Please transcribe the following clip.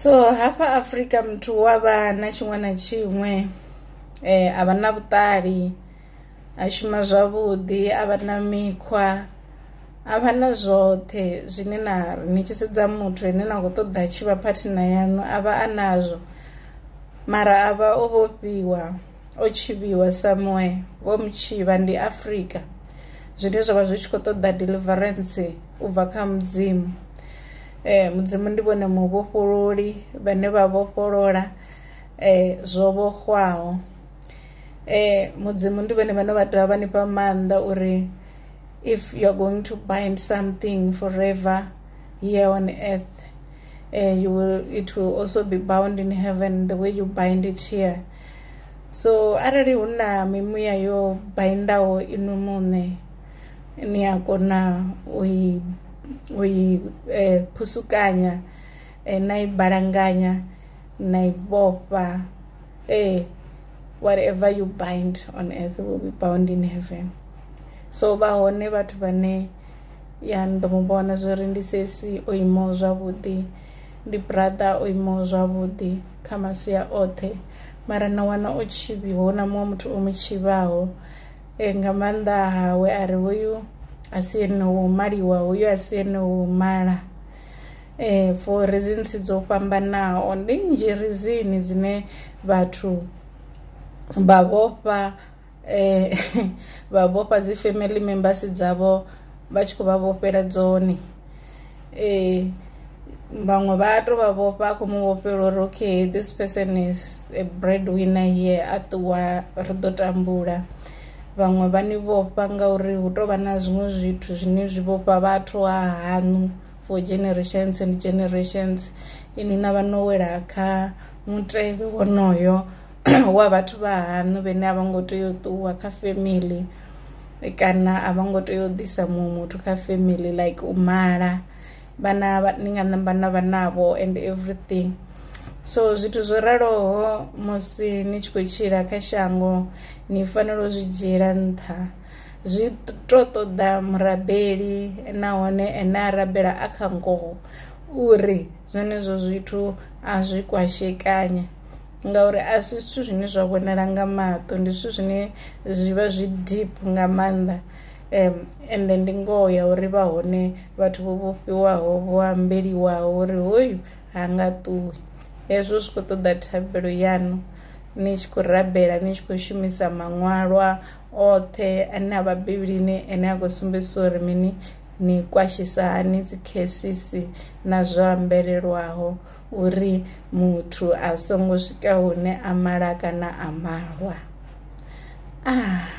so hafha afrika muthu wa vha na tshiṅwe na tshiṅwe um a vha na vhuṱali a shuma zwavhuḓi a vha na mikhwa a vha na zwoṱhe zwine na ni tshi sedza muthu ane na khou ṱoḓa tshi vha phathina yaṋu a vha a nazwo mara a vha o vhofhiwa o tshivhiwa somewhere vho mu tshivha ndi Afrika zwine zwavha zwi tshi kho ṱoḓa deliverance u bva kha mudzimu eh mudzimu ndi vhone mu vhofhololi vhane vha vhofholola eh zwo vhoxwaho eh mudzimu ndi vhone vhane vha dovha vha nifha maanḓa uri if you are going to bind something forever here on earth eh you will it will also be bound in heaven the way you bind it here so arali hu na mimuya yo baindaho inwi muṋe ni a kona u i u i phusukanya na i balanganya na i vhofha ee whatever you bind on earth will be bound in heaven so vha hone vhathu vhane ya ndo mu vhona zwori ndi sesi o imaho zwavhuḓi ndi brother o imaho zwavhuḓi. kha masia oṱhe mara na wana o tshivhiwa hu na muṅwe muthu o mu tshivhaho e, nga maanḓa hawe a ri hoyu a si ene wo maliwa hoyu a si ene wo mala um for reasons dzo fhambanaho ndi nnzhi rizini dzine vhathu vha vhofha eh, vha vhofha dzi family members dzavho vha tshi khou vha vhofhela dzone eh, vhaṅwe vha to vha vhofha a khou mu vhofhela uri okay this person is a bread winner here a ṱuwa ri ḓo tambula vhaṅwe vha ni vhofha ngauri hu tou vha na zwiṅwe zwithu zwine zwi vhofha vhathu ha haṋu for generations and generations inwi na vha no wela kha mutevhe wonoyo wa vhathu vha haṋu vhene a vho ngo tea u ṱuwa kha family kana a vho ngo tea u ḓisa muṅwe muthu kha family like u mala vhana ni nga namba na vha navho and everything so zwithu zwo raloho musi ni tshi khou tshila kha shango ni fanela u zwi dzhiela nṱha zwi to ṱoḓa murabeli nahone ene a rabela a kha ngoho uri zwenezwo zwithu a zwi kwashekanya ngauri a si zwithu zwine zwa vhonala nga maṱo ndi zwithu zwine zwi vha zwi deep nga maanḓa um ende ndi ngoho ya uri vha hone vhathu vho vhofhiwaho vho ambeliwaho uri hoyu ha nga ṱuwi hezwo zwi khou ṱoḓa thabelo yaṋu ni tshi khou rabela ni tshi khou shumisa maṅwalwa oṱhe ane a vha bivhilini ane a khou sumbedzisa uri mini ni kwashisa hani dzi khesisi na zwo ambelelwaho uri muthu a songo swika hune a mala kana a malwa ah.